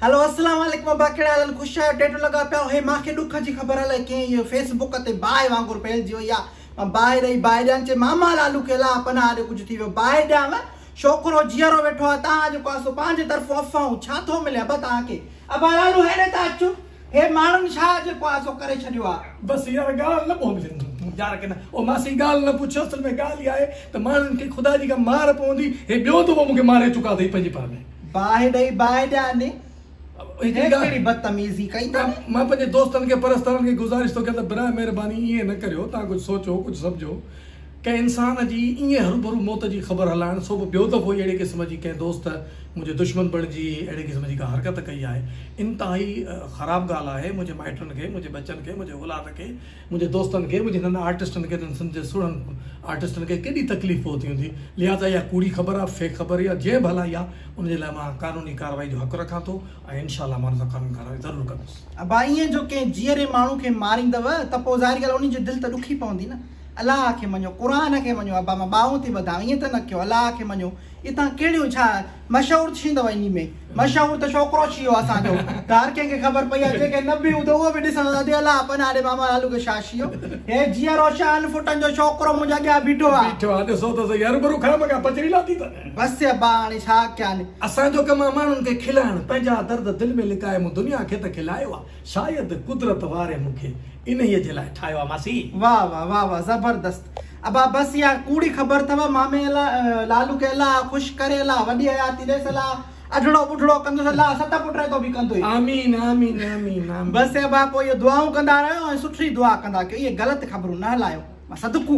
هلو السلام عليڪم ابا ڪهڙا حال آهن خوش آهيو ٽيٽو لڳا پيا اهي مان کي ڏک جي خبر الائي ڪئين اهي فيس بوڪ تي باهه وانگر ڦهلجي وئي آهي مان باهه ڏئي باهه ڏيان چئي ماما لالو کي الاء پناهه ڏي ڪجهه ٿي ويو باهه ڏيانء ڇوڪرو جيئرو ويٺو آهي تان جيڪو آهي سو پنهنجي طرفون افواهون ڇا ٿو ملي ابا توهان کي ابا لالو هيڏي ته اچ هي ماڻهن ڇا جيڪو آزو ڪري ڇڏيو آ. بس يار ڳالهه نه پوندي يار ڪنه. او ماسي ڳالهه نه پڇ اصل ۾ ڳالهه اها آهي ته ماڻهن کي خدا جي ڪا مار پوندي هي ٻيو دفعو مونکي ماري چڪا اٿئي پنهنجي پاڻ ۾. باهه ڏئي باهه ڏيان ڏي. هي ڪهڙي بدتميزي ڪئي ٿا ني. مان پنهنجي دوستن کي پرستارن کي گذارش ٿو ڪيان ته برائي مهرباني ائين نه ڪريو تان ڪجهه سوچو ڪجهه سمجهو. ڪنهن انسان جي ائين هروڀرو موت جي خبر هلائڻ، سو به ٻيو دفعو ئي اهڙي قسم جي ڪنهن دوست منهنجي دشمن بڻجي اهڙي قسم جي ڪا حرڪت ڪئي آهي، انتهائي خراب ڳالهه آهي، منهنجي مائٽن کي، منهنجي ٻچن کي، منهنجي اولاد کي، منهنجي دوستن کي، منهنجي هنن آرٽسٽن کي ته هن سنڌ جي سهڻن آرٽسٽن کي ڪيڏي تڪليف پهتي هوندي، لهٰذا اها ڪوڙي خبر آهي، فيڪ خبر آهي يا جنهن به هلائي آهي، ان جي لاء مان قانوني ڪارروائي جو حق رکان ٿو ۽ انشاء الله مان ان سان قانوني ڪارروائي ضرور ڪندس. ابا ائين جو ڪنهن جيئري ماڻهو کي ماريندؤ ته پوء ظاهري ڳالهه انهي جي دل ته ڏکي پوندي نه. الله کي مڃو، قرآن کي مڃو، ابا مان ٻانهون ٿي ٻڌان، ائين ته نه ڪيو، الله کي مڃو، اي تان ڪهڙيون ڇا مشهور ڇيندو انهي ۾، مشهور ته ڇوڪرو ڇيو اسان جو، هر ڪنهن کي خبر پئي آهي، جيڪي نه به هوندو اهو به ڏسندو ته الله پناهه ڏي ماما لالو کي ڇا ڇيو، هي جيئرو شهن ڦٽن جو ڇوڪرو منهنجي اڳيان بيٺو آهي. بيٺو آهي ڏسو ته سهي، هربرو کان مگان پچري لاٿي ته. بس ابا هاڻي ڇا ڪيان. اسان جو ڪم آهي ماڻهن کي کلائڻ، پنهنجا درد دل ۾ لڪائي مون دنيا کي ته کلايو آهي، شايد قدرت واري مون کي انهيء جي لاء ٺاهيو آ ماسي. واه واه واه واه زبردست ابا بس اها ڪوڙي خبر اٿو مامي الا لالو کي الا خوش ڪري الا وڏي حياتي ڏيس الا اڍڙو ٻڍڙو ڪندس الا ست پٽ رهي تو به ڪندو ئي آمين آمين آمين آمين. بس ابا پوء اهي دعائون ڪندا رهيو ۽ سٺڙي دعا ڪندا ڪيو اهي غلط خبرون نه هلايو صدقو.